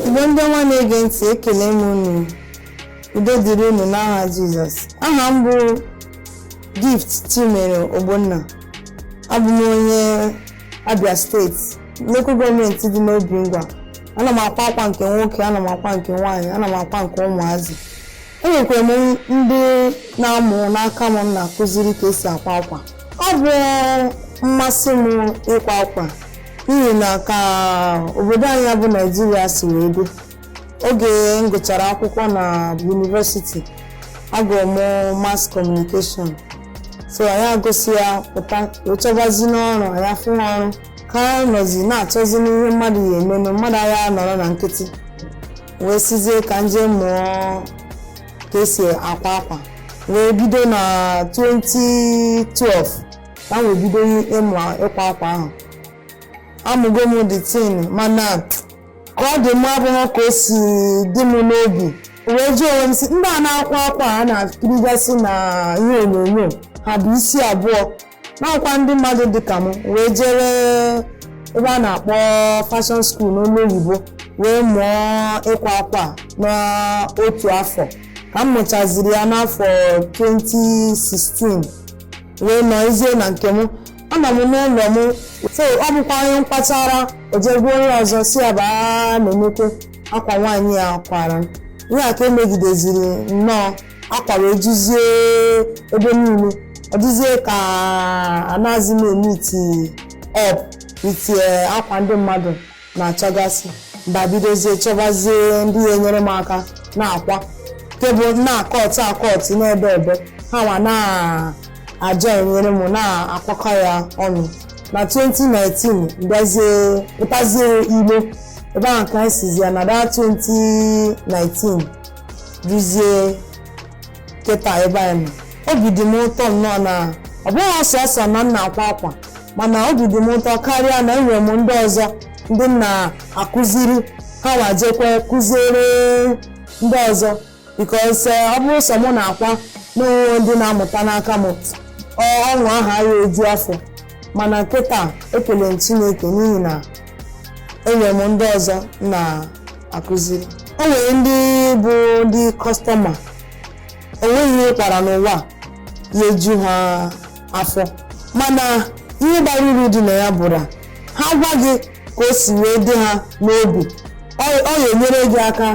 igbo ndị ọma na-ege ntị ekele m unu udo dịrị unu n'aha jizọs aha m bụ gift chimere ogbonna abụ m onye Abia steeti local gọọmenti dị n'Obingwa ana m akwa akwa nke nwoke ana m akwa nke nwaanyị ana m akwa nke ụmụazị enwekwara m ndị na-amụ n'aka m na-akụziri ka esi akwa akwa ọ bụ mmasị m ịkwa akwa n'ihi na ka obodo anyị bụ naijiria si wee dị oge m gụchara akwụkwọ na yunivesiti agụrụ m mass communication so anyị agụsị ya pụta wee chọbazi n'ọrụ anyị afụha ọrụ ka a nọzi na-achọzi n'ihe mmadụ ya emenụ mmadụ agha nọrọ na nkịtị wee sizie ka m jee mụọ ka esi akwa akwa wee bido na 2012 ka m wee bido ịmụ ịkwa akwa ahụ amụgo m the thing mana ka ọ dị mma abụghị ka o si dị m n'obi wee jụọ onwe m sị ndị a na-akwa akwa a na-akirigasị na ihe onyonyo ha bu isi abụọ na ha bụkwa ndị mmadụ dị ka m wee jere ebe a na-akpọ fashion school n'olu oyibo wee mụọ ịkwa akwa n'otu afọ ka m mụchaziri ya n'afọ 2016 wee nọzie na nke m anọ m n'ụlọ m so ọ bụkwa onye m kwachaara o je gwa onye ọzọ sị ya bịa na enwekwe akwa nwaanyị a kwara ihe a ka emegideziri nnọọ akwa wee juzie ebe niile ọ dịzie ka anaghịzi m emeet up with akwa ndị mmadụ na-achọgasị m bịa bidozie chọbazie ndị ya enyere m aka na-akwa nke m bụ na-akọtụ akọtụ na-edebe ha nwa na-aja enyere m na-akwakọ ya ọnụ na 2019 bịazie pụtazie igbo ebe ahụ ka anyị sizie na that 2019 duzie kịta ebe anyị nọ obi dị m ụtọ nnọọ na ọ bụghị sọsọ na m na-akwa akwa mana obi dị m ụtọ karịa na enwere m ndị ọzọ ndị m na-akụziri ha nwa jekwe kụziere ndị ọzọ because ọ bụrụ sọ mụ na-akwa n'onwe ndị na-amụta n'aka m ọṅụ aha ya eju afọ mana nkịta ekele m Chineke n'ihi na enwere m ndị ọzọ na akụziri o nwere ndị bụ ndị kọstọma o nweghị ihe ị kwara n'ụwa ya-eju ha afọ mana ihe bara uru dị na ya bụ na ha gwa gị ka o si wee dị ha n'obi ọ ọ ya-enyere gị aka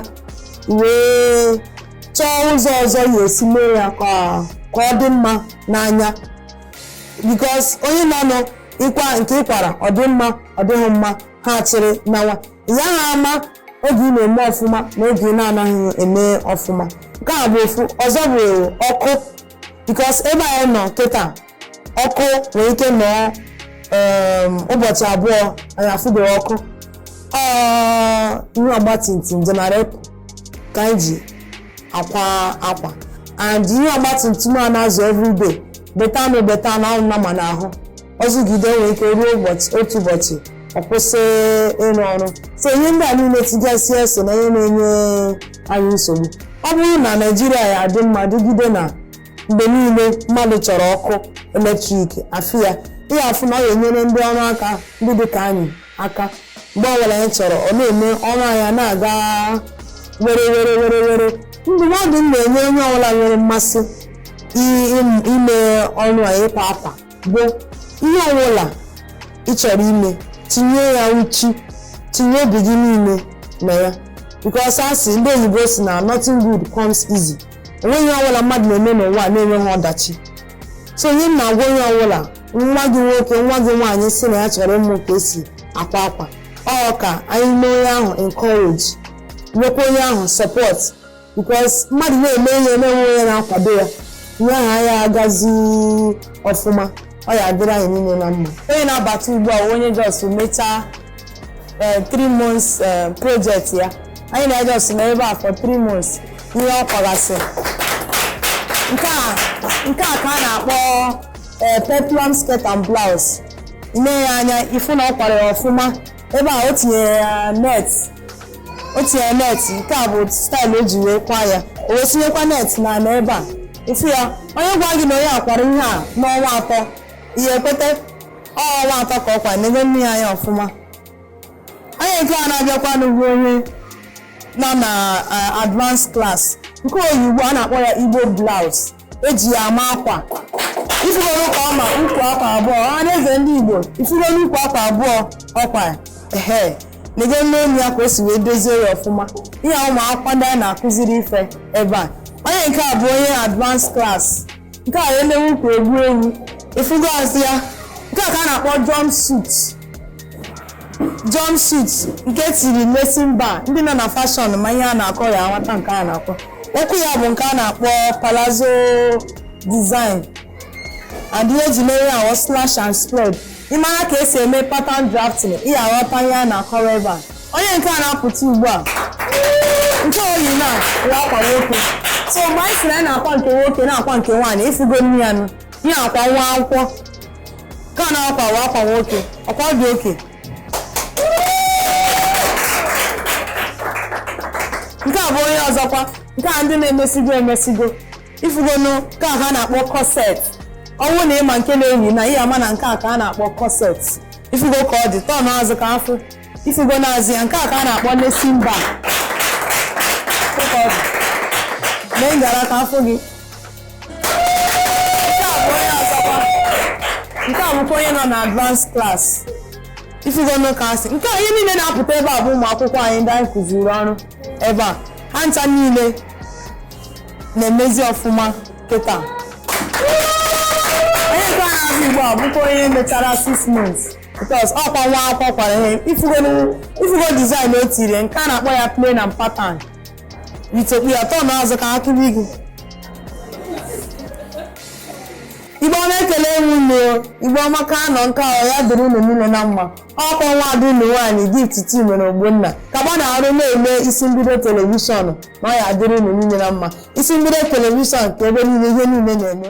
wee chọọ ụzọ ọzọ ị ya-esi mee ya ka ka ọ dị mma n'anya because onye na-anọ ịkwa nke ị kwara ọ dị mma ọ dịghị mma ha chịrị nawa ị yaha ama oge ị na-eme ọfụma na oge ị na-anaghị eme ọfụma nke a bụ ofu ọzọ bụ ọkụ because ebe anyị nọ kịta ọkụ nwere ike nọọ um, ụbọchị abụọ anyị afụbeghị ọkụ ihe ọgbatumtum generator ka anyị ji akwa akwa and ihe ọgbatumtum a na-azụ everyday beta anụ beta anụ ahụ nama n'ahụ ọ zụgide o nwere ike ruo otu ụbọchị ọ kwụsị ịrụ ọrụ so ihe ndị a niile tigasị eso na ihe na-enye anyị nsogbu ọ bụrụ na Naịjirịa ya-adị mma dịgide na mgbe niile mmadụ chọrọ ọkụ eletrik afụ ya ị ya-afụ na ọ ya-enyere ndị ọrụ aka ndị dị ka anyị aka mgbe ọbụla anyị chọrọ ọ na-eme ọrụ anyị a na-aga were were were were ndụmọdụ m na-enye onye ọbụla nwere mmasị i- im- ime ọrụ a ịkwa akwa bụ ihe ọbụla ị chọrọ ime tinye ya uchu tinye obi gị niile na ya because a sị ndị oyibo sị na nothing good comes easy o nweghị ihe ọbụla mmadụ na-eme n'ụwa a na-enweghị ọdachi so ihe m na-agwa onye ọbụla nwa gị nwoke nwa gị nwaanyị sị na ya chọrọ ịmụ ka e si akwa akwa ọ ka anyị mee onye ahụ encourage nyekwa onye ahụ support because mmadụ na-eme ihe na-enwe onye na-akwado ya ihe ahụ ya-agazi ọfụma ọ ya-adịrị anyị niile na mma onye na-abata ugbu a onye just mechaa eh, three months eh, project ya anyị na just na ebe a for three months ihe ọ kwagasị nke a ka a na-akpọ ee peplum skirt and blouse i nee ya anya ị fụ na ọ kwara ya ọfụma ebe a o tinyere ya net nke a bụ style o ji wee kwa ya o wee tinyekwa net na na ebe a ị fụ ya onye gwa gị na onye a kwara ihe a n'ọnwa atọ ị ya-ekweta ọ ọnwa atọ ka ọ kwa n'ebe nee ya anya ọfụma onye nke a na-abịakwa ugbu a onye nọ na advanced class nke o yi ugbu a a na-akpọ ya Igbo blouse e ji ya ama akwa ị fụgonụ ka ọ ma ukwu akwa abụọ ọha na eze ndị Igbo ị fụgonụ ukwu akwa abụọ ọkwa ehe lego n'elu ya ka o si wee dozie ya ọfụma ihe a ụmụ akwụkwọ ndị a na-akụziri ife ebe a onye nke a bụ onye advanced class nke a na-ewu ka egwu egwu ị fụgo azụ ya nke a ka a na-akpọ jumpsuit jumpsuit nke tiri lacing bar ndị nọ na fashion ma ihe a na-akọ ya nwata nke a na-akọ okwu ya bụ nke a na-akpọ palazzo design and ihe eji mere ya wụ slash and spread ị mara ka esi eme pattern drafting ị aghọta ihe a na-akọrọ ebe a onye nke a na-apụta ugbu a nke o yi na ya akwa nwoke so mgbe anyị sịrị anyị na-akwa nke nwoke na-akwa nke nwaanyị ịfụgonụ ya nụ ihe akwa nwa akwụkwọ ka ọ na-akwa wa akwa nwoke ọkwa ọ dị okay nke a bụ onye ọzọkwa nke a ndị na-emesigo emesigo ifugonu nke a ka a na-akpọ corset ọ wụ na ị ma nke na-eyi na ị ya-ama na nke a ka a na-akpọ corset ifugo ka ọ dị turn azụ ka a fụ ifugonu azụ ya nke a ka a na-akpọ lacing bar mee ngara ka a fụ gị nke a bụkwa onye nọ na advance class ifugonu ka o si nke a ihe niile na-apụta ebe a bụ ụmụ akwụkwọ anyị ndị anyị kụziri ọrụ ebe a ha ncha niile na-emezi ọfụma kịta onye nke a na-abịa ugbu a bụkwa onye mechara 6 months because ọkwa nwa akwụkwọ kwara ihe ifugo design o tiri nke a na-akpọ ya plain and pattern itokpu ya turn azụ ka a kụọrọ gị Igbo ọma ekele m unu Igbo amaka anọ nke ahụ ya dịrị unu niile na mma ọkwa nwa ada unu nwaanyị Gift Chimere Ogbonna gaba n'iru na-ele isi mbido telivishọn na ọ ya dịrị unu niile na mma isi mbido telivishọn ka ebe niile ihe niile na-eme